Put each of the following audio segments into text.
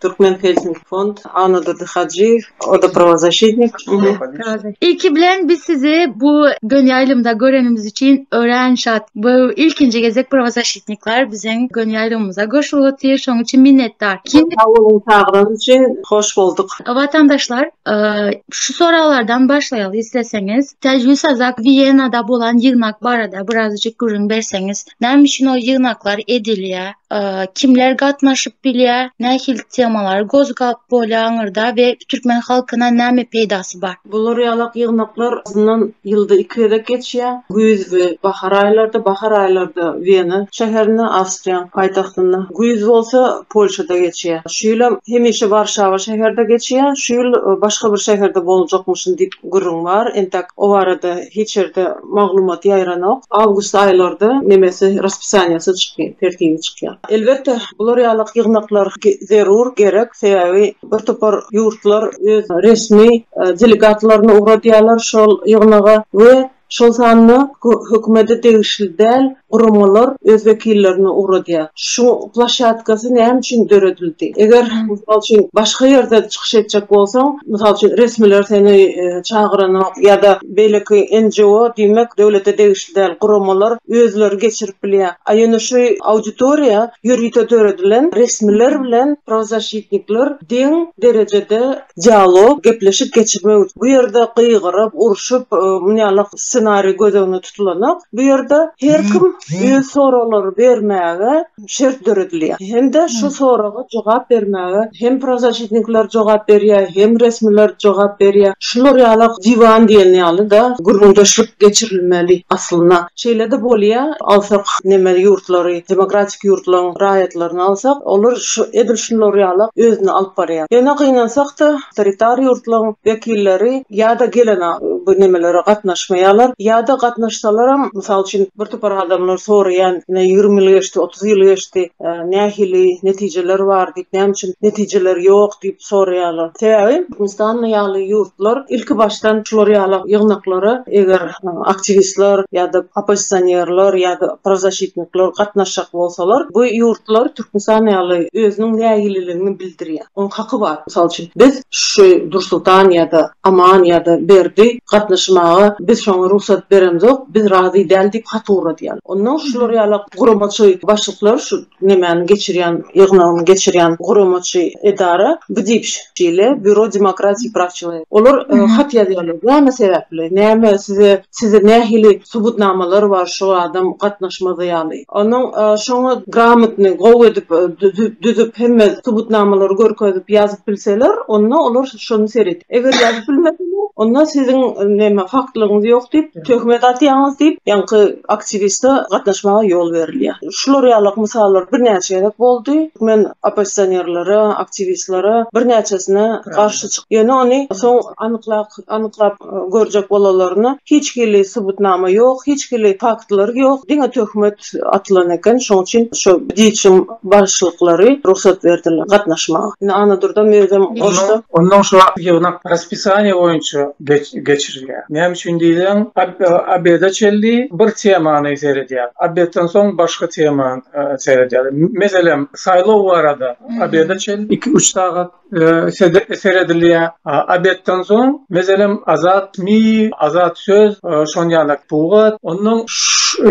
Türkmen Helsinki Fond, Anadurdy Hajyýew, o da prawozasitnik. Ilki bilen biz sizi bu gön ýaýlymda görenimiz üçin örän şat. Bu ilkinji gezek prawozasitnikler biziň gön ýaýlymymyza goşulyp otyr, şoň üçin minnetdar. Sag boluň çagyranyz üçin, hoş bolduk. Watandaşlar, şu soraglardan başlaýaly isleseňiz. Täjigül Sazak Wiýenada bolan ýygnak barada birazajyk gürrüň berseňiz. Näme üçin ol ýygnaklar edilýär? kimler gatnaşyp bilýär, nähili temalar gozgap bolýar aňyrda we türkmen halkyna näme peýdasy bar? Bular ýalak ýygnaklar azyndan ýylda iki gezek geçýär. Güýz we bahar aýlarda, bahar aýlarda Wena şäherinde, Awstriýanyň paýtagtynda, güýz bolsa Polşada geçýär. Şu ýylam hemişe Warşawa şäherde geçýär, şu ýyl başga bir şäherde boljakmyşyn diýip, gürrüň bar, entek o barada hiç ýerde maglumat ýaýranok. Awgust aýlarda nemesi raspisaniýasy çykýar, tertibi çykýar. Elbetde, bular ýalak ýygnaklar zerur, gerek, sebäbi bir topar ýurtlar öz resmi delegatlaryny ugradýarlar şol ýygnaga we şol sanda hökümete degişli däl guramalar öz wekillerini ugradýar. Şu ploshatkasy näme üçin döredildi? Eger, mysal üçin, başga ýerde çykyş etjek bolsaň, mysal üçin, resmiler seni çagyranok ýa-da beýleki NGO, diýmek, döwlete degişli däl guramalar özleri geçirip bilýär. A ýöne şu auditoriýa ýörite döredilen resmiler bilen prawzasitnikler deň derejede dialog, gepleşik geçirmek üçin. Bu ýerde gygyryp, urşup, muny ýaly ssenariý göz öňünde tutulanok. Bu ýerde her kim öz soraglary bermäge şert döredilýär. Hem-de şu soraga jogap bermäge hem prozachitnikler jogap berýär, hem resmiler jogap berýär. Şular ýaly diwan diýen ýaly-da gürrüňdeşlik geçirilmeli aslynda. Şeýle-de bolýar, agsak neme ýurtlary, demokratik. ýurtlaryň raýatlaryny alsak, olar şu edil şular ýala özüni alyp barýar. Ýöne gynansak-da, awtoritar ýurtlaryň wekilleri ýa-da gelen bu nemelere gatnaşmaýarlar, ýa-da gatnaşsalaram, mysal üçin, bir topar adamlar soraýan, ine, ýigrimi ýyl geçdi, otuz ýyl geçdi, nähili netijeler bar diýip, näme üçin netijeler ýok diýip, soraýarlar. Sebäbi Türkmenistan ýaly ýurtlar ilkibaşdan şular ýaly ýygnaklara eger aktiwistler ýa-da oppozisionerler ýa-da prazaşitnikler gatnaşjak bolsalar, bu ýurtlar Türkmenistan ýaly özüniň nägililigini bildirýär. Onuň haky bar. Mysal üçin, biz şu Dursultan ýa-da Aman ýa-da Berdi gatnaşmaga biz şoňa rugsat beremzok, biz razy däl diýip hat ugradýarlar. Onnoň şular ýaly guramaçy başlyklar şu Nämäni geçirýän, ýygnagyny geçirýän guramaçy edara bu diýip şeýle Býuro demokratiki praçyny. Olar hat ýazýarlar. Näme sebäpli? Näme size, sizde nähili subutnamalar bar şu adam gatnaşmady ýaly? Onuň şoňa gramotny, gowy edip düzüp hemme subutnamalary görkezip ýazyp bilseler, onda olar şony seredip. Eger ýazyp bilmeseler, onda siziň näme faktlygyňyz ýok diýip, Töhmet atýaňyz diýip, ýaňky aktiwiste gatnaşmaga ýol berilýär. Şular ýaly mysallar birnäçe gezek boldy. Men oppozisionerlere, aktiwistlere birnäçesine garşy çykdym. Ýöne ony soň anyklap, anyklap görjek bolalaryna hiç hili subutnama ýok, hiç hili faktlary ýok, diňe töhmet. atylan eken. Şoň üçin şo Diçiň bagşylyklary rugsat berdiler gatnaşmaga. Indi Annadurdam özem goşdy. Onnoň şo ýygnak raspisaniýa boýunça geçirilýär. Näme üçin diýseň, obeda çenli bir temany seredýär. Obedden soň başga temany seredýär. Meselem, saýlaw barada obeda çenli iki-üç sagat seredilýär. Obedden soň, meselem, Azat mi, Azat söz, şon ýaly pugat. Ondan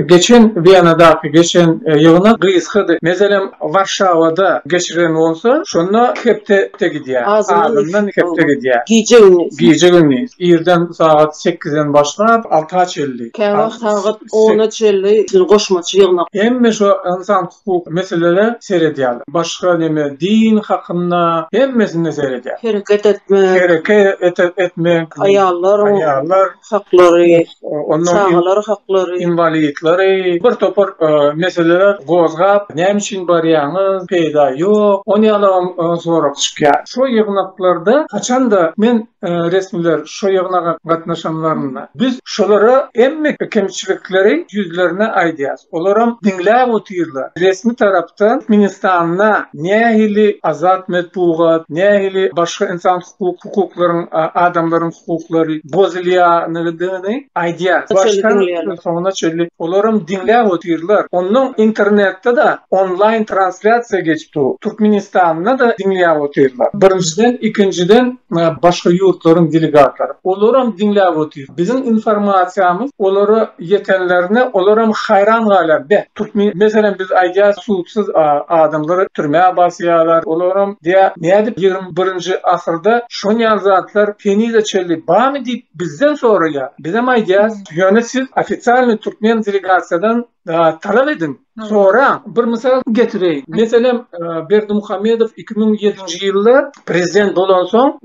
geçen Wienadaky geçen ýygnak gysgady. Meselem, Warşawada geçirilen bolsa, şonda hepde gidýär. Azyndan hepde gidýär. Gije-gündiz. Gije-gündiz. Irden sagat sekizden başlap, alta çenli. Käwagt sagat ona çenli goşmaça ýygnak. Hemme şo ynsan hukuk meselelere seredýärler. Başga neme din hakynda hemmesine seredýär. Hereket etmek. Hereket etmek. Aýallar. Aýallar. Haklary. Onda. Çagalar haklary. Inwalidleri. Bir topar meseleler gozgap näme üçin barýaňyz peýda ýok. Ony ýalam sorag çykýar. Şo ýygnaklarda haçanda men resmiler şu ýygnaga gatnaşanlarynda, Biz şulara hemme kemçilikleri ýüzlerine aýdýarys. Olaram diňläp otyrlar. Resmi tarapdan Türkmenistanda nähili azat metbugat, nähili başga ynsan hukuklaryň, adamlaryň hukuklary bozulýandygyny aýdýar. Başdan soňuna çenli olaram diňläp otyrlar. Onnoň internetde-de onlaýn translýasiýa geçip. tutdu. Türkmenistanda-da diňläp otyrlar. Birinjiden, ikinjiden başga ýurtlaryň delegatlary. Olaram diňläp otyr. Biziň informasiýamyz olara ýetenlerine olaram haýran galýar. Beh, türkmen, meselem biz aýdýarys suwsuz adamlary türmä basýarlar. Olaram diýýär, nädip ýigrimi birinji asyrda şonýaly zatlar henize çenli barmy diýip bizden soraýar. Bizem aýdýarys, ýöne siz ofisialnyý türkmen delegasiýadan talap ediň, soraň. Bir mysal getireýin. Meselem, Berdimuhamedow iki müň ýedinji ýylda prezident bolansoň,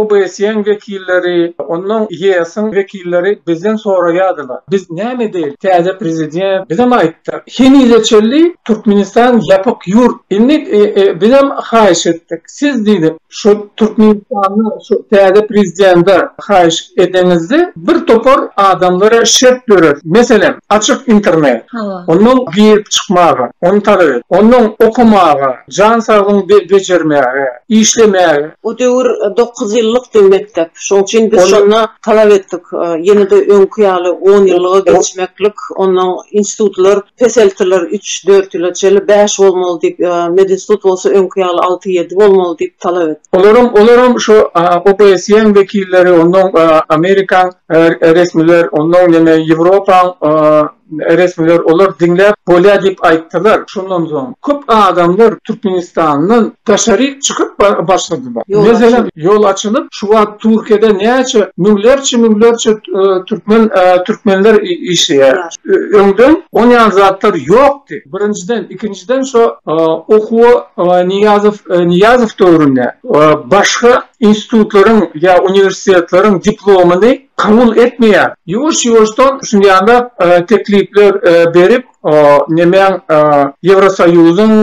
OBSE-iň wekilleri, onnoň YS-iň wekilleri bizden soraýardylar, Biz näme edeýin? Täze prezident bizem aýtdy, Henize çenli Türkmenistan ýapyk ýurt. Indi bizem haýyş etdik. Siz diýdi, şu Türkmenistanda şu täze prezidende haýyş edeňizde bir topar adamlara şert döret. Meselem, açyk internet. Hawa. Ondan girip çykmaga, ony talap et. Ondan okamaga, jan saglygyňy bejermäge, işlemäge. O döwür dokuz ýyllykdy mekdep. Şoň üçin biz şonda talap etdik. Ýene-de öňki ýaly on ýyllyga geçmeklik, onnoň institutlar peseltiler, üç, dört ýyla çenli bäş bolmaly diýip, medinstitut bolsa öňki ýaly alty, ýedi bolmaly diýip talap etdik. Olaram, olaram şu OBSE-iň wekilleri, onnoň Amerikaň resmiler, onnoň ýene Ýewropaň, Resmiler olar diňläp bolýar diýip aýtdylar. Şondan soň köp adamlar Türkmenistandan daşaryk çykyp başladylar. Meselem, ýol açylyp, şu wagt Türkiýede näçe müňlerçe-müňlerçe türkmen türkmenler işleýär. Öňden on ýaly zatlar ýokdy. Birinjiden, ikinjiden şo okuwa Niýazow Niýazow döwründe başga institutlaryň ýa uniwersitetleriň diplomyny kabul etmeýär. Ýuwaş-ýuwaşdan şunýanlak teklipler berip, nemeň, Ýewrosoýuzyň,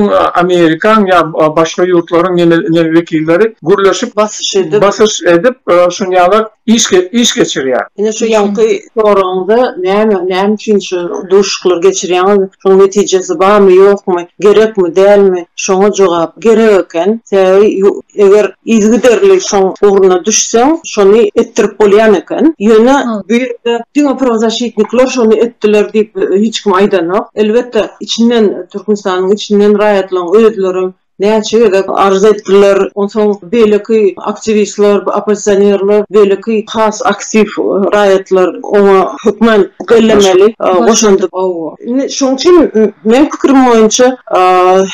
Amerikaň ýa başga ýurtlaryň neme wekilleri gürleşip, basyş edip, şunýanlak iş geçirýär. Ine şu ýaňky soragyňyza näme, näme üçin şu duşuşyklary geçirýäňiz, şoň netijesi barmy, ýokmy, gerekmi, dälmi, şoňa jogap, gerek eken. Sebäbi eger Yzygiderli şoň ugruna düşseň, şony etdirip bolýan eken. Ýöne bu ýerde diňe prozaşitnikler şony etdiler diýip hiç kim aýdanok. Elbetde, içinden, Türkmenistanyň içinden raýatlaryň özlerem näçe gezek arza etdiler. Onsoň beýleki aktiwistler, oppozisionerler, beýleki has aktiw raýatlar oňa hökmän bellemeli goşandy. Indi şoň üçin meň pikirim boýunça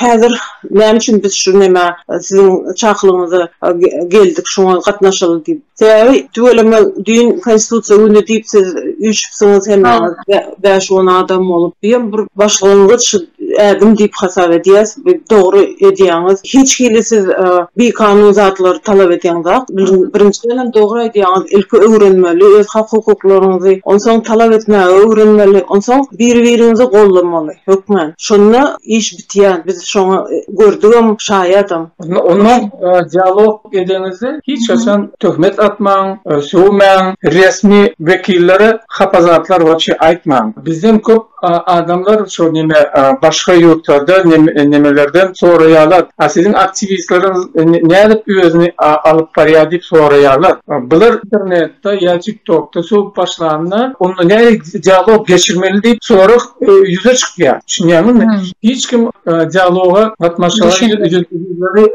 häzir. Näme üçin biz şu nämä siziň çakylygyňyza geldik, şoňa gatnaşaly diýip. Sebäbi tüweleme düýn Konstitusiýa güni diýip siz üýşüpsiňiz hemmäňiz bäş-on adam bolup. Diýen bir başlangyç ädim diýip hasap edýäs. Dogry edýäňiz. Hiç hili siz bikanun zatlary talap edýäňzok. Birinjiden hem dogry aýdýaňyz. Ilki öwrenmeli, öz hak-hukuklaryňyzy, onsoň talap etmäge öwrenmeli, onsoň biri-biriňizi goldamaly, hökmän. Şonda iş Ýa biz şoňa gördügem, şaýadam. Onda dialog edeňizde hiç haçan töhmet atmaň, sögmäň, resmi wekillere hapa zatlar waçe aýtmaň. Bizden köp adamlar şo neme başga ýurtlarda nemelerden soraýarlar. A siziň aktiwistleriňiz nädip özüni alyp barýar diýip soraýarlar. Bular internet. Ýutubda ýa TikTokda sowup başlanda, onda nähili dialog geçirmeli diýip sorag ýüze çykýar. Düşünýäňizmi? Hiç kim dialoga gatnaşýanlary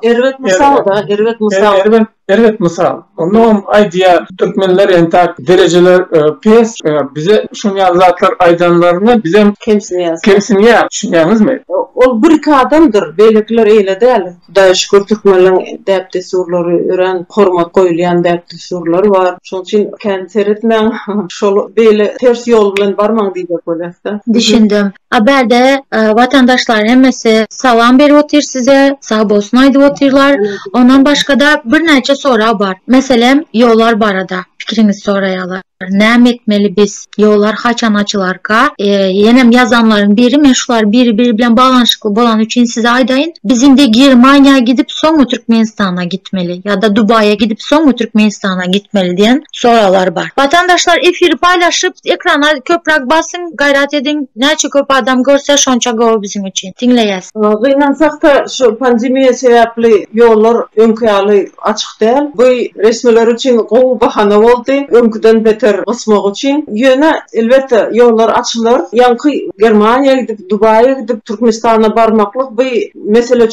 Erbet mysal-da, erbet mysal. Erbet, erbet mysal. Onda hem aýdýar, türkmenler entäk derejeler pes, bize şuny ýaly zatlar aýdanlaryna bizem kemsinýäs. Kemsinýäs, düşünýäňizmi? Ol bir-iki adamdyr, beýlekiler eýle däl. Hudaýa şükür türkmenleriň däp-dessurlary örän hormat goýulýan däp-dessurlary bar. Şonuň üçin kän seretmäň, şol beýle ters ýol bilen barmaň diýjek bolýasda. Düşündim. A bärde watandaşlar hemmesi salam berip otyr size, sagbolsun aýdyp otyrlar. Ondan başgada birnäçe sorag bar. Meselem ýollar barada pikiriňizi soraýarlar. Näme etmeli biz? Ýollar haçan açylarka? Ýenem ýazanlaryň biri, men şular biri biri bilen baglanyşykly bolany üçin size aýdaýyn. Biz indi Germaniýa gidip soňmy Türkmenistana gitmeli ýa-da Dubaýa gidip soňmy Türkmenistana gitmeli diýen soraglar bar. Watandaşlar efiri paýlaşyp ekrana köpräk basyň gaýrat ediň näçe köp adam görse şonça gowy biziň üçin. diňleýäs. Gynansak-da, şu pandemiýa sebäpli ýollar öňki ýaly açyk däl. Bu resmiler üçin gowy bahana boldy, öňküden beter gysmak üçin. Ýöne, elbetde, ýollar açylar. Ýaňky Germaniýa gidip, Dubaýa gidip, Türkmenistana barmaklyk bu mesele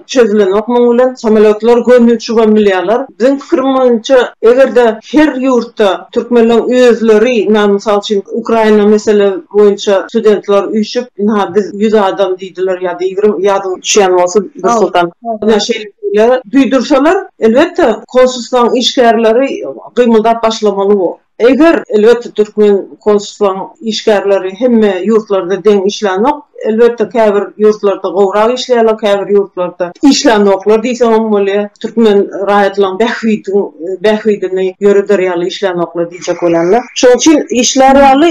çözülenok muň bilen. Samolýotlar gönüçügem bilýärler. Biziň pikirimiz boýunça, eger-de her ýurtda Türkmenleň özleri na mysal üçin Ukraina mesele boýunça studentler üýşüp na biz ýüz adam diýdiler ýa-da ýigrimi ýadyňa düşýän bolsa Nursultan na şeýle şeyler duýdursalar elbetde konsulstwaň işgärleri gymyldap başlamaly bu. Eger elbetde türkmen konsulstwaň işgärleri hemme ýurtlarda deň işlänok. Elbetde käbir ýurtlarda gowrak işleýärler, käbir ýurtlarda işlänoklar diýseňem bolýar. Türkmen raýatlaryň bähbidi bähbidini ýöreder ýaly işlänoklar diýjek bolanda. Şoň üçin işlär ýaly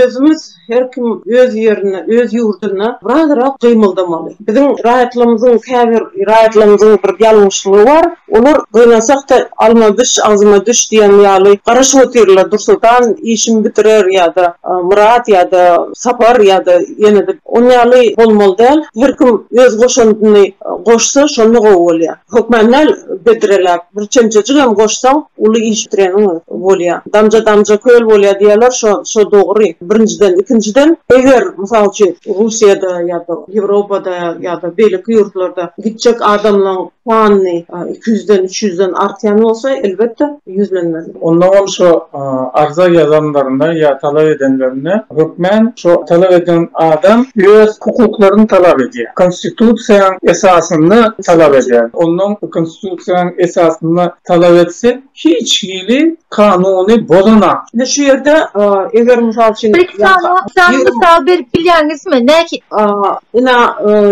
özümiz her kim öz ýerinde, öz ýurdunda birazrak gymyldamaly. Biziň raýatlarymyzyň käbir raýatlarymyzyň bir ýalňyşlygy bar. Olar gynansakda alma biş agzyma düş diýen ýaly garaşyp otyrlar, Dursoltan işimi bitirer ýa-da Myrat ýa-da Sapar ýa-da ýene-de on ýaly bolmaly däl, her kim öz goşandyny goşsa şonda gowy bolýar. Hökman däl bedreläp bir çemçejigem goşsaň uly iş bitireniň bolýar. Damja damja köl bolýar diýýärler şo şo dogry birinjiden ikinjiden eger mysal üçin Russiýada ýa-da Ýewropada ýa-da beýleki ýurtlarda gitjek adamlaň Sanyny iki ýüzden, üç ýüzden artýan bolsa, elbetde, ýüzlenmeli. Onda ol şo arza ýazanlarynda ýa talap edenlerinde hökmän şo talap eden adam öz hukuklaryny talap edýär. Konstitusiýanyň esasynda talap edýär. Ondan konstitusiýanyň esasynda talap etse, hiç hili kanuny bozanak. Indi şu ýerde eger mysal üçin. Bir iki sany sany mysal berip bilýäňizmi? Näki. Ina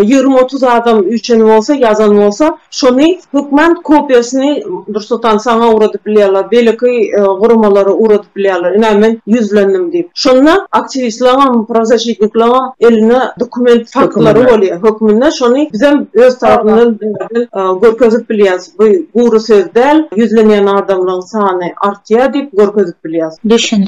ýigrimi otuz adam üýşen bolsa ýazan bolsa şony hökman kopiýasyny Nursultan saňa ugradyp bilýärler beýleki guramalara ugradyp bilýärler ina men ýüzlendim diýip şonda aktiwistleriňem prawzasitnikleriňem elinde dokument faktlary bolýar hökmünde şony bizem öz tarapymyzdan görkezip bilýäris. Bu gury söz däl, ýüzlenýän adamlaň sany artýa diýip görkezip bilýas. Düşün.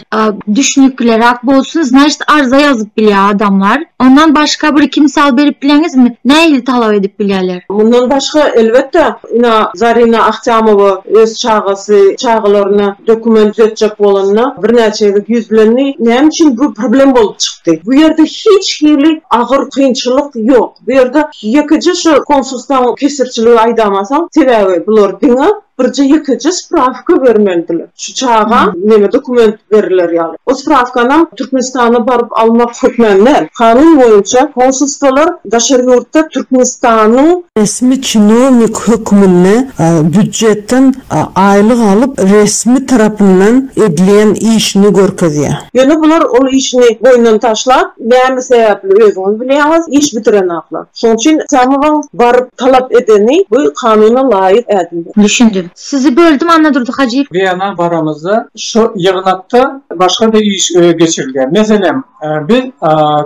Düşnükliräk bolsun znaşit arza ýazyp bilýä adamlar. Ondan başga bir iki mysal berip bileňizmi? Nähili talap edip bilýäler? Mundan başga elbetde ina Zarina Ahtamowa öz çagasy çagalaryna dokument düzetjek bolanda birnäçe gezek ýüzlendi. Näme üçin bu problem bolup çykdy? Bu ýerde hiç hili agyr kynçylyk ýok. Bu ýerde ýekeje şu konsulstaň kesirçiligi aýdamansoň, sebäbi bular diňe birje ýekeje sprawka bermelidiler. Şu çaga neme dokument beriler ýaly. O sprawkanam Türkmenistana baryp almak hökmany däl. Kanun boýunça konsulstwalar daşary ýurtda Türkmenistanyň. Resmi çinownik hökmünde býujetden aýlyk alyp, resmi tarapyndan edilýän işini görkezýär. Ýöne bular ol işini boýundan taşlap, Näme sebäpli özüňiz bilýäňiz, iş bitirenaklar. Şoň üçin Samowyň baryp talap edeni bu kanuna laýyk ädimdir. Düşündim. Sizi böldüm Annadurdy Hajyýew. Gyýana baramyzda şu ýygnakda başga-da iş geçirilýär. Meselem, biz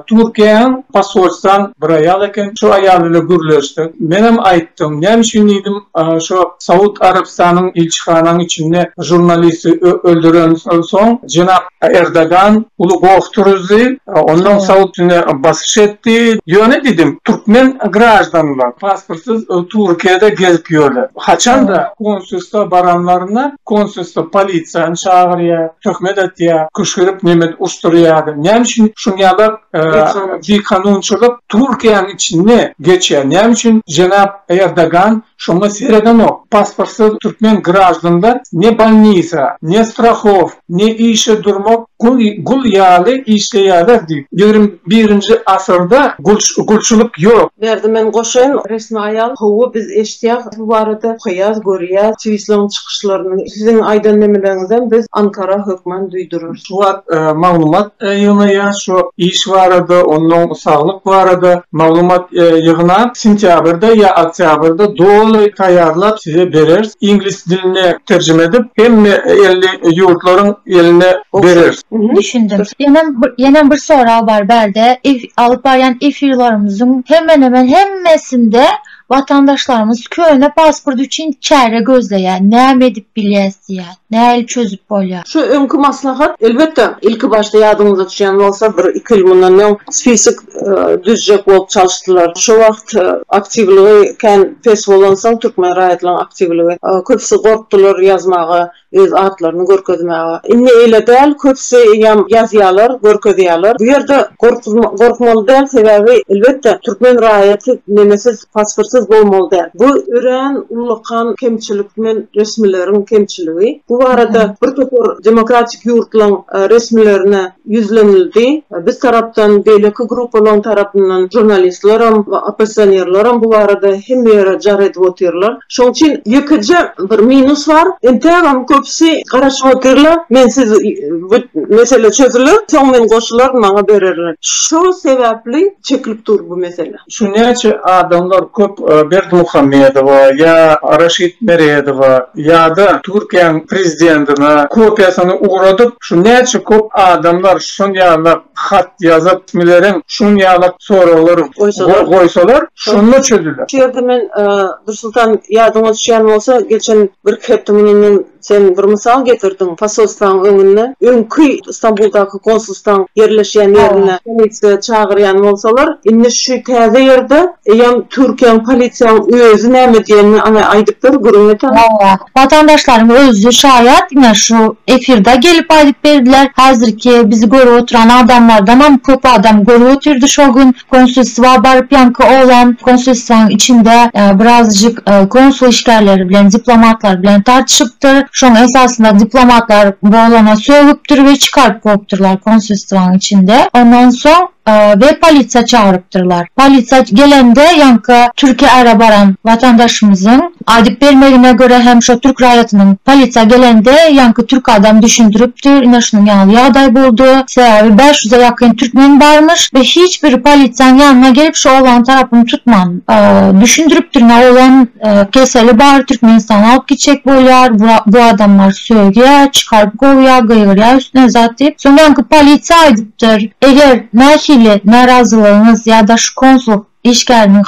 Türkiýäň posolstwan bir aýal eken, şu aýal bilen gürleşdik. Menem aýtdym, näme üçin diýdim, şu Saud Arabystanyň ilçihanaň içinde žurnalisti öldürensoň jenap. Erdogan uly goh turuzdy, ondan soň üstüne basyş etdi. Ýöne diýdim, türkmen graždanlar pasportsyz Türkiýede gezip ýörler. Haçan-da konsulstwa baranlarynda, konsulstwa polisiýany çagyrýar, töhmet atýar, küşgürip neme urşdurýar. Näme üçin şuny ýaly bikanunçylyk Türkiýäniň içinde geçýär? Näme üçin jenap Erdogan Şoňa seredenok, pasportsyz türkmen graždanda ne bolnisa, ne strahow, ne işe durmak, gul gul ýaly işleýäler diýip. Ýigrimi birinji asyrda gulçulyk ýok. Berdi men goşaýyn. Resmi aýal, Howwa biz eşitýäs bu barada, okaýas, görýäs, twisleň çykyşlaryny. Siziň aýdan nemeleriňizem biz Ankara hökman duýdurarys. Şu wagt maglumat ýygnaýar, şu iş barada, onuň saglyk barada maglumat ýygnap, sentýabrda ýa oktýabrda doly taýýarlap size bereris. Iňlis diline terjime edip, hemme elli ýurtlaryň eline bereris. Düşündim. Ýenem, ýenem bir sorag bar bärde, alyp barýan efirlerimiziň hemen-hemen hemmesinde Watandaşlarymyz köne pasport üçin çäre gözleýär, näme edip bilýäs diýýär, nähili çözüp bolýar? Şu öňki maslahat, elbetde, ilki başda ýadyňyzda düşýän bolsa, bir iki ýyl mundan öň spisok düzjek bolup çalyşdylar. Şo wagt aktiwligi kän pes bolansoň, türkmen raýatlaryň aktiwligi, köpüsi gorkdular ýazmaga. Öz atlaryny görkezmäge. Indi eýle däl, köpüsi eýýäm ýazýarlar, görkezýärler. Bu ýerde gorkmaly däl, sebäbi elbetde türkmen raýaty nemesiz, pasportsyz bolmaly däl. Bu örän ullakan kemçilik men resmileriň kemçiligi. Bu barada bir topar demokratik ýurtlaryň resmilerine ýüzlenildi. Biz tarapdan, beýleki gruppalaryň tarapyndan žurnalistlerem, oppozisionerlerem bu barada hemme ýere jar edip otyrlar. Şoň üçin ýekeje bir minus bar. Entägem köpüsi garaşyp otyrlar. Men siz bu mesele çözüler, soň men goşularyn, maňa bererler. Şol sebäpli çekilip dur bu mesele. Şu näçe adamlar köp Berdimuhamedowa ýa Raşid Meredowa ýa-da Türkiýäň prezidentine kopiýasyny ugradyp, şu näçe köp adamlar şun ýaly hat ýazyp, resmileriň şun ýaly soraglar goýsalar, şonda çözüler. Şu ýerde men Dursultan ýadyňa düşýän bolsa, geçen birki hepde mundan öň Sen bir mysal getirdiň, posolstwaň öňünde, öňki Stambuldaky konsulstwaň ýerleşýän ýerinde polisiýa çagyrýan bolsalar, indi şu täze ýerde eýýäm Türkiýäň polisiýaň özi näme diýenini aňe aýdyp ber, gürrüň et aňe. Hawa, watandaşlaryň özi şaýat, ine şu efirde gelip aýdyp berdiler, häzirki bizi görüp oturan adamlardanam köp adam görüp otyrdy şo gün. Konsulstwa baryp ýaňky oglan konsulstwaň içinde birazajyk konsul işgärleri bilen diplomatlar bilen tartyşypdyr. Şoň esasynda diplomatlar bu oglana sögüpdir we çykaryp goýupdyrlar konsulstwaň içinde. Ondan soň we polisiýa çagyrypdyrlar. Polisiýa gelende ýaňky Türkiýä ara baran watandaşymyzyň Aýdyp bermegine görä hem şo türk raýatynyň, polisiýa gelende ýaňky türk adam düşündiripdir, ine şunuň ýaly ýagdaý boldy, sebäbi bäş ýüze ýakyn türkmen barmyş we hiç biri polisiýanyň ýanyna gelip şu oglanyň tarapyny tutman. Düşündiripdir ine oglan keseli bar, Türkmenistana alyp gitjek bolýar, bu adamlar sögýär, çykaryp kowýar, gygyrýar üstüne zat diýip, soň ýaňky polisiýa aýdypdyr, eger nähili närazylygyňyz ýa-da şu konsullyk Işgäriniň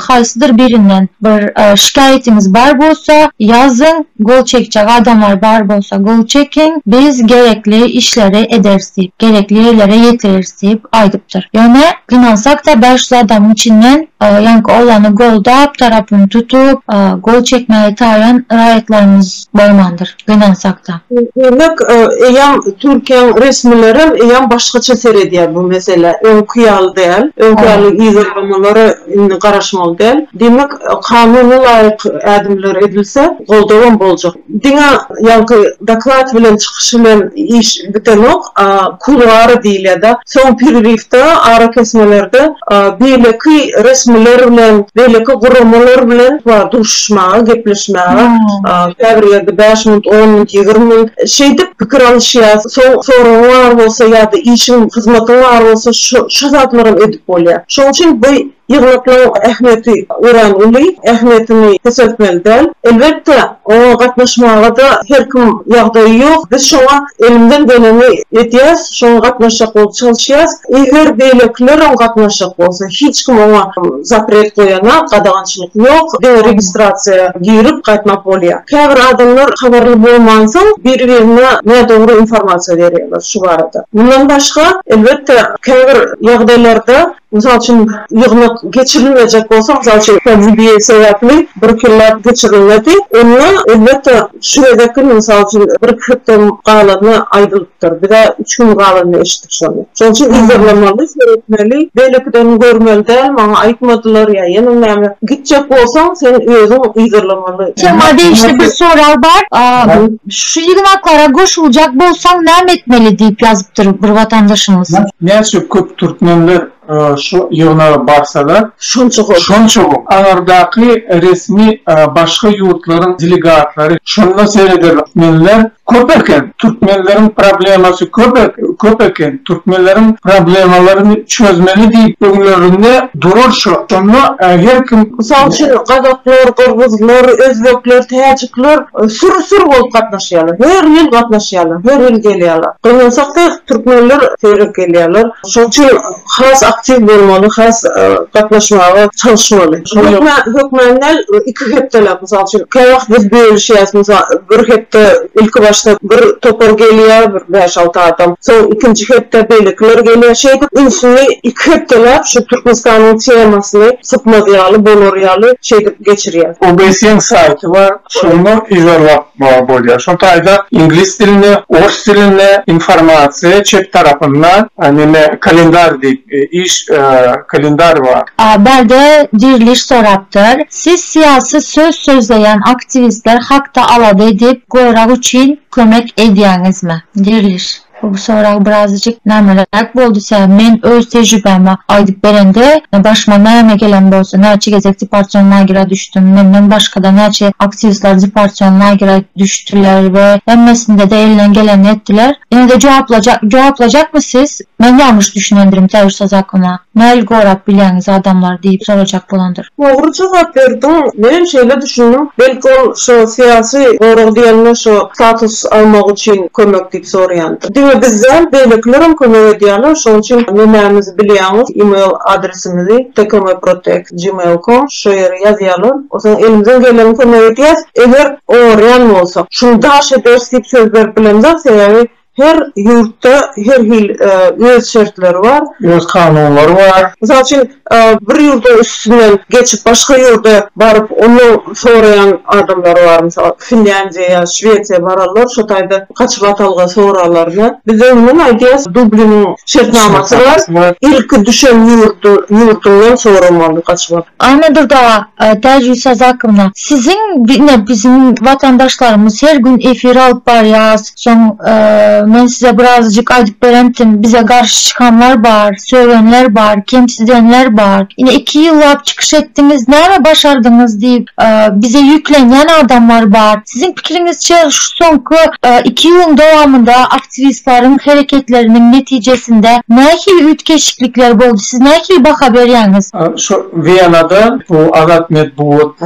haýsydyr birinden bir şikaýatyňyz bar bolsa, ýazyň, gol çekjek adamlar bar bolsa gol çekiň, biz gerekli işleri ederis diýip, gerekli ýerlere ýetireris diýip aýdypdyr. Ýöne gynansakda bäş ýüz adamyň içinden ýaňky oglany goldap, tarapyny tutup, gol çekmäge taýan raýatlarymyz bolmandyr. Gönaň sakda. Demek, eýýäm Türkiýäň resmilerem eýýäm başgaça seredýär bu meselä. Öňki ýaly däl. Öňki ýaly yzarlamalara indi garaşmaly däl. Demek, kanuna laýyk ädimler edilse, goldawam boljak. Diňe ýaňky doklad bilen çykyş bilen iş bitenok, a kuluary diýilýär-de. Soň pererifde, arakesmelerde beýleki resmiler bilen, beýleki guramalar bilen bar duşuşmaga, gepleşmäge, käbir ýerde bäş minut, on minut, ýigrimi minut şeýdip pikir alyşýas. Soň soragyň bar bolsa ýa-da işiň, hyzmatyň bar bolsa, şo zatlaram edip bolýar. Şoň üçin bu. Ýygnaklaryň ähmiýeti örän uly, ähmiýetini peseltmeli däl. Elbetde, oňa gatnaşmaga-da her kim ýagdaýy ýok. Biz şoňa elimden geleni edýäs, şoňa gatnaşjak bolup çalyşýas. Eger beýlekilerem gatnaşjak bolsa, hiç kim oňa zapret goýanak, gadagançylyk ýok. Diňe registrasiýa girip gaýtmak bolýar. Käbir adamlar habarly bolmansoň, biri-birine nädogry informasiýa berýärler şu barada. Mundan başga, elbetde, käbir ýagdaýlarda Mysal üçin, ýygnak geçirilmejek bolsa, mysal üçin, pandemiýa sebäpli bir ýyllap geçirilmedi. Onda, elbetde, şu gezek hem, mysal üçin, bir-iki hepde galany aýdylypdyr. Biz-ä üç gün galanda eşitdik şony. Şonuň üçin yzarlamaly, seretmeli. Beýlekilerini görmeli däl, maňa aýtmadylar ýa ýene näme. Gitjek bolsaň, sen özüň yzarlamaly. Tema degişli bir sorag bar. Şu ýygnaklara goşuljak bolsaň näme etmeli diýip ýazypdyr bir watandaşymyz. Näçe köp türkmenler şu ýygnaga barsalar, şonça gowy. Aňyrdaky resmi başga ýurtlaryň delegatlary, şonda serederler. Türkmenler köp eken, türkmenleriň problemasy köp eken, türkmenleriň problemalaryny çözmeli diýip öňlerinde durar şo, şonda her kim. Mysal üçin gazaklar, gyrgyzlar, özbekler, täjikler Sür-sür bolup gatnaşýarlar. Her ýyl gatnaşýarlar. Her ýyl gelýärler. Gynansakda türkmenler seýrek gelýärler. Şonuň üçin has aktiw bolmaly, has gatnaşmaga çalyşmaly. Hökmän, hökmän däl, iki hepdeläp, mysal üçin, kä wagt biz bölüşýäs, mysal, bir hepde ilkibaşda bir topar gelýär, bir bäş-alty adam, soň ikinji hepde beýlekiler gelýär. Şeýdip ünsüni iki hepdeläp şu Türkmenistanyň temasyny, sypmaz ýaly bolar ýaly şeýdip geçirýär. OBS-iň saýty bar, şonda yza bakmaga bolýar. Şol taýda iňlis dilinde, ors dilinde informasiýa çep tarapynda neme kalendar diýip iş kalendar bar. A bärde diriliş sorapdyr. Siz syýasy söz sözleýän aktiwistler hakda alada edip görag üçin kömek edýäňizmi? Diriliş. Bu sorag birazajyk nämeräk boldy tä men öz tejribämi aýdyp berende başyma näme gelen bolsa näçe gezek deporsion lagera düşdüm menden başgada näçe aktiwistler deporsion lagera düşdüler we hemmesindede elinden gelenini etdiler ýenede jogaplajak jogaplajakmy siz men ýalňyş düşünendirim täwirsoz aklyma näl gorap bilýäňiz adamlar diýip sorajak bolandyr. Dogry jogap berdiň, menem şeýle düşündim, belki ol şo syýasy gorag diýende şo status almak üçin kömek diýip soraýandyr. Diňe biz däl, beýlekilerem kömek edýärler, şoň üçin nemämizi bilýäňiz, email adresimizi tkomprotect@gmail.com şo ýere ýazýarlar, o soň elimizden geleni kömek edýäs, eger oňarýan bolsak, şuny daş ederis diýip söz berip bilemzok, sebäbi Her ýurtda her hil öz şertleri bar. Öz kanunlary bar. Mysal üçin, bir ýurduň üstünden geçip başga ýurda baryp, onda soraýan adamlar bar. Mysal, Finlýandiýa ýa Şwesiýa bararlar, şo taýda gaçyp atalga sorarlarmy? Bizde umuman aýdýas, Dubliniň şertnamasy bar. Ilki düşen ýurdy, ýurdundan soramaly gaçyp atyp. Anna Durdowa, Täjigül Sazakownda, siziň ine biziň watandaşlarymyz her gün efir alyp barýas, Soň men size birazajyk aýdyp berentin, bize garşy çykanlar bar, sögenler bar, kemsidenler bar. Ine iki ýyllap çykyş etdiňiz, näme başardyňyz diýip, bize ýüklenýän adamlar bar. Siziň pikiriňizçe şu soňky iki ýylyň dowamynda aktiwistleriň hereketleriniň netijesinde nähili üýtgeşiklikler boldy, siz nähili baha berýäňiz? Şu Wienada bu Azat Metbugat,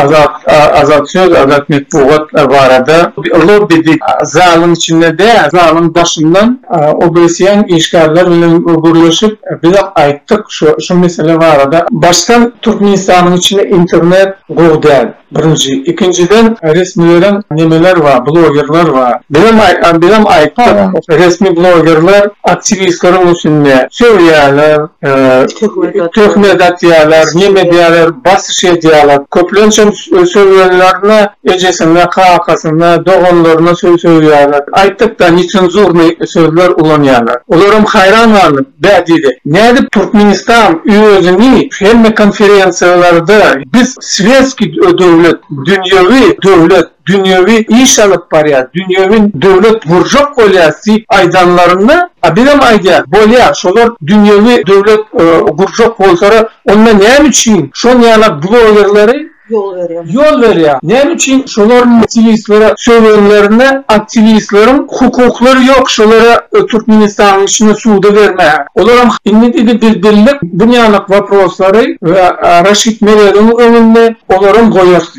Azat Azat söz, Azat metbugat barada lobbidik zalyň içinde däl, zalyň daşyndan OBSE-niň işgärleri bilen gürleşip, biz aýtdyk şu mesele barada. Başdan Türkmenistanyň içinde internet gowy däl, birinji. Ikinjiden, resmileriň nemeler bar, blogerler bar. Bizem bizem aýtdyk, resmi blogerler aktiwistleriň üstünde söýýärler, Töhmet atýarlar, nem edýärler, basyş edýärler. Köplençem sögýänlerine ejesine, kakasyna, doganlaryna söz sögýärler. Aýtdykda, netsenzurnyý sözler ulanýarlar. Olaram haýran galdy. Bä diýdi, nädip Türkmenistan özüni hemme konferensiýalarda biz sweskiý döwlet, dünýewi döwlet, dünýewi iş alyp barýar, dünýewi döwlet gurjak bolýarys diýip aýdanlarynda, a bizem aýdýarys, bolýar, şolar dünýewi döwlet gurjak bolsara, onda näme üçin şon ýala blogerleri ýol berýär, näme üçin şolar aktiwistlere sögenlerinde aktiwistleriň hukuklary ýok şolara Türkmenistanyň içinde suda bermäge, olaram indi diýdi biz bildik bu ýanak waproslary we Raşid Meredowyň öňünde olaram goýarys.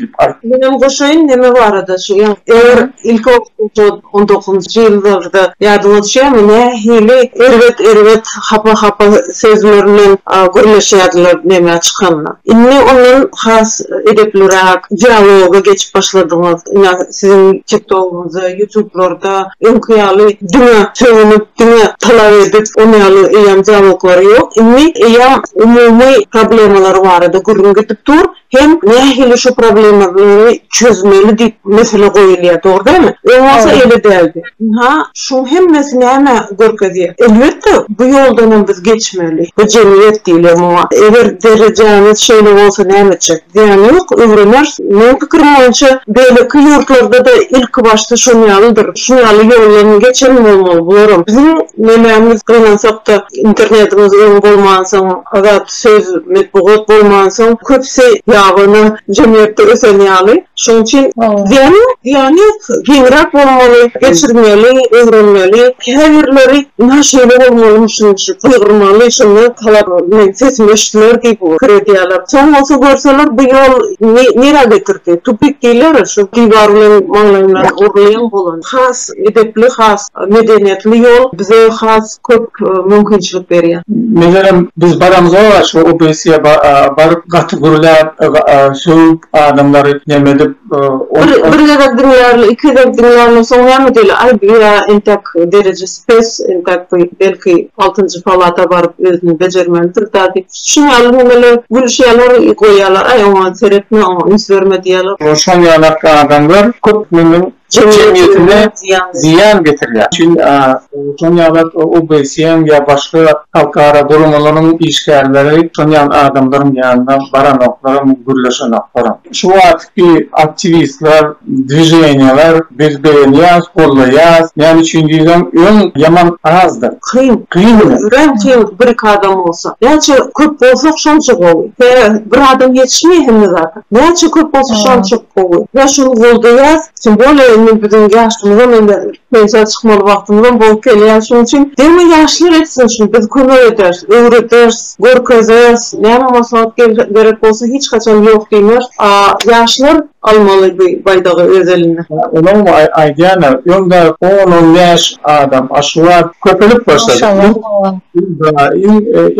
Menem goşaýyn neme barada şu ýa eger ilki okuwda on dokuzynjy ýyllarda ýada bolşýamy nähili erbet erbet hapa hapa sözler bilen gürleşýärdiler neme çykanda indi ondan has edepliräk dialoga geçip başladyňyz ina siziň tiktogyňyzda ýutublarda öňki ýaly diňe sögünip diňe talap edip on ýaly eýýam dialoglary ýok indi eýýam umumy problemalary barada gürrüň gidip dur hem nähili şu problemalary çözmeli diýip mesele goýulýar dogry dälmi? Öň bolsa öýle däldi. Ynha şuň hemmesi nämä görkezýär? Elbetde bu ýoldanam biz geçmeli. Bu jemgyýet diýilýär muňa. Eger derejämiz şeýle bolsa näme etjek? Zyýany ýok, öwreneris. Meň pikirim boýunça beýleki ýurtlarda-da ilki başda şoň ýalydyr. Şuň ýaly ýoldan geçen bolmaly bularam. Biziň nemämiz gynansakda internetimiz öň bolmansoň azat Söz, metbugat bolmansoň, köpüsi ýabany jemgyýetde ösen ýaly. Şonuň üçin zyýan ýok, zyýan ýok. Giňräk bolmaly, geçirmeli, öwrenmeli. Käbirleri ynha şeýle bolmalymy şunuň üçin gygyrmaly, şonda talap meniň sesim eşidiler diýip pikir edýärler. Soň bolsa görseler bu ýol nirä getirdi? Tupik diýilýär-ä şu diwar bilen maňlaýymdan urulýan bolan. Has edepli, has medeniýetli ýol, bize has köp mümkinçilik berýär. Megerem biz baramyza şu obesiýa baryp gaty gürläp sögüp adamlary nemedip ol. Bir gezek diňlärler iki gezek diňlärler soň näme diýerler aý bu ýa entek derejesi pes entek bu belki altynjy palata baryp özüni bejermelidir da diýip şuň ýaly nemeler gülüşýärler goýýarlar aý oňa seretme oňa üns berme diýýärler. Şoň ýalak adamlar köp meniň jemgyýetine zyýan getirýär. Üçin şol ýaly OBSE-iň ýa başga halkara guramalaryň işgärleri şol ýaly adamlaryň ýanyna baranoklarm, gürleşenoklarm. Şu wagtky aktiwistler, dwiženiýalar biz begenýäs, gollaýas. Näme üçin diýseň, öň ýaman azdy. Kyn. Kyn. Örän kyn bir-iki adam bolsa. Näçe köp bolsak şonça gowy. Tä bir adam ýetişmeýär hemme zada. Näçe köp bolsa şonça çok gowy. Biz şuny goldaýas. Kim bolýa indi biziň ýaşymyzam indi pensiýa çykmaly wagtymyzam bolup gelýär. Şonuň üçin degme ýaşlar etsin şuny biz kömek ederis, öwrederis, görkezeris. Näme maslahat gerek bolsa hiç haçan ýok diýmeris. A ýaşlar almaly bu baýdagy öz eline. Olam aýdýana öňde on on bäş adam a şu wagt köpelip başlady.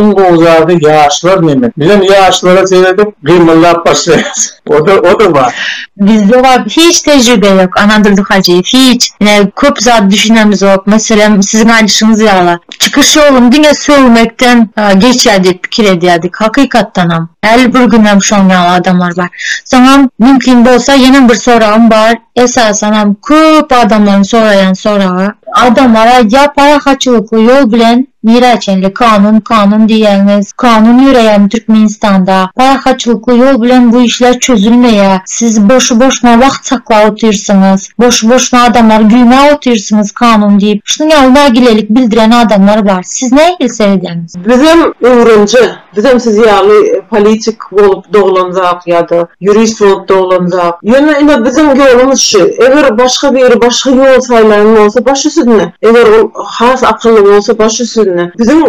Iň gowy zady ýaşlar neme. Bizem ýaşlara seredip gymyldap başlaýas. Oda oda bar. Bizde bar hiç tejribe ýok Anadurdy Hajyýew hiç. Ine köp zat düşünemizok meselem siziň aýdyşyňyz ýaly. Çykyş ýolum diňe sögmekden geçýär diýip pikir edýärdik hakykatdanam. Häli bir günem şoň ýaly adamlar bar. Soňam mümkin bolsa ýenem bir soragym bar. Esasan hem köp adamlaryň soraýan soragy. Adamlara ýa parahatçylykly ýol bilen nirä çenli kanun kanun diýýäňiz, kanun ýöreýämi Türkmenistanda, parahatçylykly ýol bilen bu işler çözülmeýä, siz boşy boşuna wagt saklap otyrsyňyz, boşy boşuna adamlary güýmäp otyrsyňyz kanun diýip şunuň ýaly nägilelik bildiren adamlar bar. Siz nähili seredýäňiz? Bizem öwrenje Bizem siz ýaly politik bolup doglanjak ýa-da ýurist bolup doglanjak. Ýöne ine biziň ýolumyz şu. Eger başga biri başga ýol saýlaýan bolsa baş üsüdne. Eger ol has akylly bolsa baş üsüdne. Biziň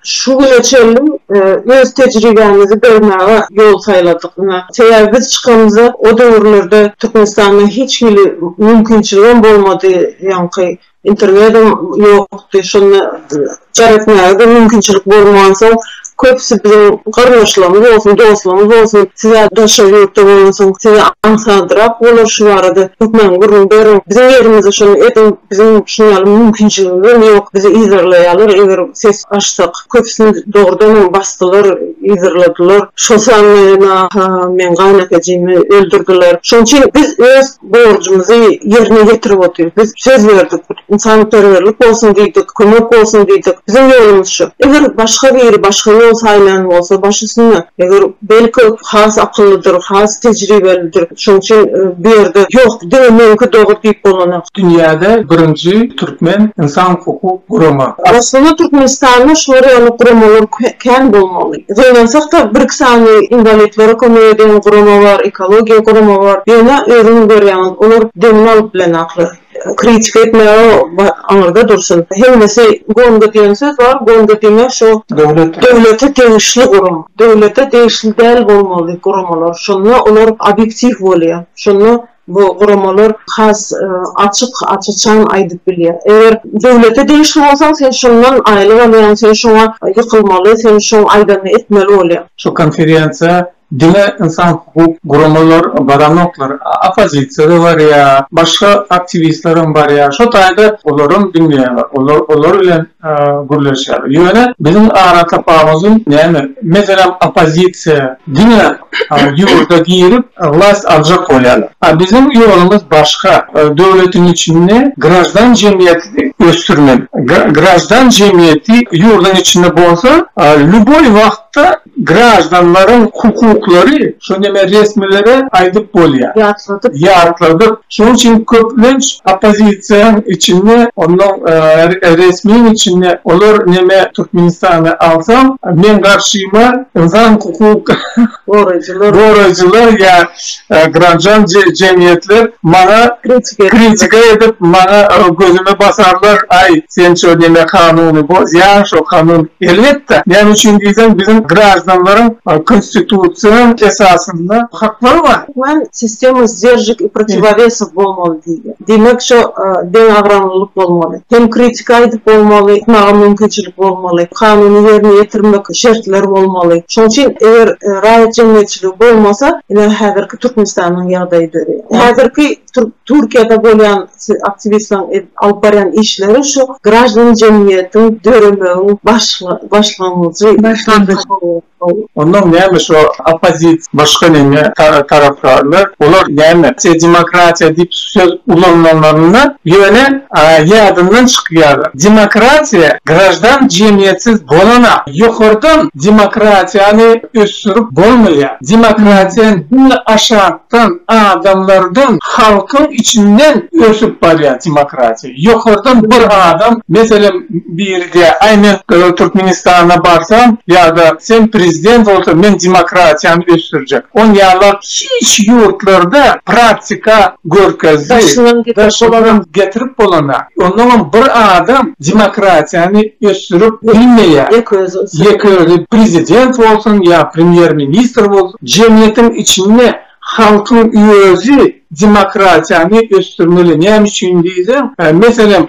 şu güne çenli öz tejribämizi bermäge ýol saýladyk. Ine sebäbi biz çykamyzda o döwürlerde Türkmenistanda hiç hili mümkinçiligem bolmady ýaňky Internedem ýokdy, şonda jar etmäge-de mümkinçilik bolmansoň, köpüsi biziň garyndaşlarymyz bolsun, dostlarymyz bolsun, siz-ä daşary ýurtda bolansoň, size aňsatdyrak bolar şu barada, hökman gürrüň beriň, biziň ýerimizde şony ediň, biziň şunuň ýaly mümkinçiligimizem ýok, bizi yzarlaýarlar, eger ses açsak. Köpüsini dogrudanam basdylar, yzarladylar. Şol sanda ýene-ha meň gaýynakejimi öldürdiler. Şonuň üçin biz öz borjumyzy ýerine ýetirip otyrys. Biz söz berdik, ynsanperwerlik bolsun diýdik, kömek bolsun diýdik. Biziň ýolumyz şu. Eger başga biri başga ýol saýlan bolsa, baş üstüne. Eger, belki, o has akyllydyr, has tejribelidir. Şonuň üçin bu ýerde, Ýok, diňe meňki dogry diýip bolanok. Dünýäde birinji türkmen ynsan hukuk gurama. Aslynda Türkmenistanda şular ýaly guramalar kän bolmaly. Gynansakda, bir-iki sany inwalidlere kömek edýän gurama bar, ekologiýa gurama bar. Ýöne özüňiz görýäňiz, olar demini alyp bilenoklar. Kritika etmäge aňyrda dursun. Hemmesi Gonga diýen söz bar, Gonga diýmek şo döwlete degişli gurama. Döwlete degişli däl bolmaly guramalar. Şonda olar obýektiw bolýar. Şonda Bu guramalar has açyk, aç-açan aýdyp bilýär. Eger döwlete degişli bolsaň, sen şondan aýlyk alýaň, sen şoňa ýykylmaly, sen şoň aýdanyny etmeli bolýaň. Şu konferensiýa diňe ynsan hukuk guramalar baranoklar, oppozisiýa-da barýar, başga aktiwistlerem barýar. Şo taýda olaram diňleýärler. Olar bilen gürleşýär. Ýöne biziň aratapawudym näme? Meselem oppozisiýa diňe ýurda girip wlast aljak bolýarlar. A biziň ýolumyz başga. Döwletiň içinde graždan jemgyýeti ösdürmeli. Graždan jemgyýeti ýurduň içinde bolsa lýuboý wagtda Graždanlaryň hukuklary, şony hemen resmilere aýdyp bolýar. Ýatladyp. Ýatladyp. Şonuň üçin köplenç oppozisiýaň içinde, onnoň resmiň içinde olar neme Türkmenistany alsaň, meň garşyma ynsan hukuk goraýjylar ýa Granjan jemgyýetler maňa kritika edip maňa gözüme basarlar aý sen şo diýme kanuny bozýaň şo kanun elbetde näme üçin diýseň biziň graždanlaryň konstitusion esasynda haklary bar. Sistema sdержек i protivovesov bolmaly diýdi. Diýmek, şo deňagramlylyk bolmaly. Hem kritika aýdyp bolmaly, aýtmaga mümkinçilik bolmaly, kanuny ýerine ýetirmek şertler bolmaly. Şoň üçin eger raýat jemgyýetçiligi bolmasa, ine häzirki Türkmenistanyň ýagdaýy döreýär. Häzirki Türkiýede bolýan aktiwistleriň alyp barýan işleri şu graždan jemgyýetiň döremegiň başlangyjy. Ondan näme şo oppozisiýa başga näme tarapdarlar olar näme demokratiýa diýip söz ulananlarynda ýöne ýadyndan çykýar demokratiýa graždan jemgyýetsiz bolana ýokardan demokratiýany ösdürip bolmaýa demokratiýa diňe aşakdan adamlardan halkyň içinden ösüp barýa demokratiýa. Ýokardan bir adam, meselem, biri diýýär, Aý, men Türkmenistana barsam ýa-da sen prezident bolsaň, men demokratiýany ösdürjek. Ony ýalylar hiç ýurtlarda praktika görkezdi. Daşyndan getirip bolana. Onnoň hem bir adam demokratiýany ösdürip bilmeýär. Ýeke özi prezident bolsun ýa premýer-ministr bolsun. Jemgyýetiň içinde. Halkyň özi demokratiýany ösdürmeli. Näme üçin diýseň, meselem,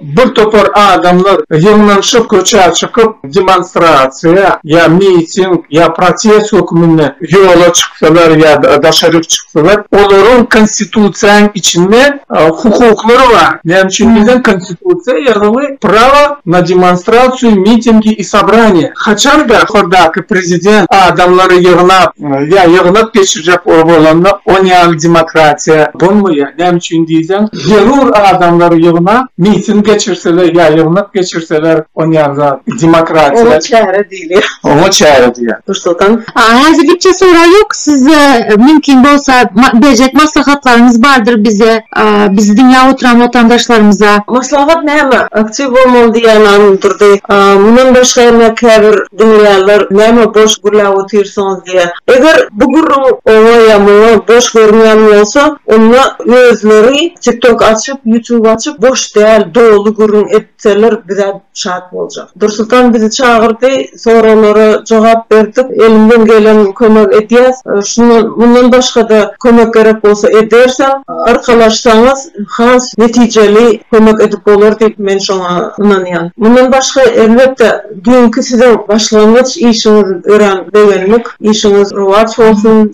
bir topar adamlar ýygnanyşyp, köçä çykyp, demonstrasiýa ýa miting ýa protest hökmünde ýola çyksalar ýa-da daşaryk çyksalar, olaryň konstitusiýanyň içinde, Hukuklary bar. Näme üçin diýseň konstitusiýa ýazuwy prawa na demonstrasiýu, mitingi i sobraniýa. Haçan da ýokardaky prezident adamlary ýygnap ýa ýygnak geçirjek bolanda ony ýaly demokratiýa bolmaýar. Näme üçin diýseň zerur adamlary ýygnap miting geçirseler ýa ýygnak geçirseler ony ýaly zat demokratiýa. Hili oňa çäre diýýär. Nursultan. Häzir gitjek sorag ýok. Siz mümkin bolsa berjek maslahatlaryňyz bardyr bize, bizi diňläp oturan watandaşlarymyza. Maslahat näme? Aktiw bolmaly diýýän adam durdy. Mundan başga hem käbir diňleýänler näme boş gürläp otyrsyňyz diýýär. Eger bu gürrüň oňa ýa muňa boş görünýän bolsa, onda özleri TikTok açyp, YouTube açyp boş däl, doly gürrüň edip. Seller bizä şat boljak. Dursultan bizi çagyrdy, soraglara jogap berdik. Elimden gelen kömegi edýäs. Şundan, mundan başga-da kömek gerek bolsa edersem, arkalaşsaňyz has netijeli kömek edip bolar diýip men şoňa ynanýan. Mundan başga, elbetde, düýnki siziň başlangyç işiňiz örän begendik. Işiňiz rowaç bolsun.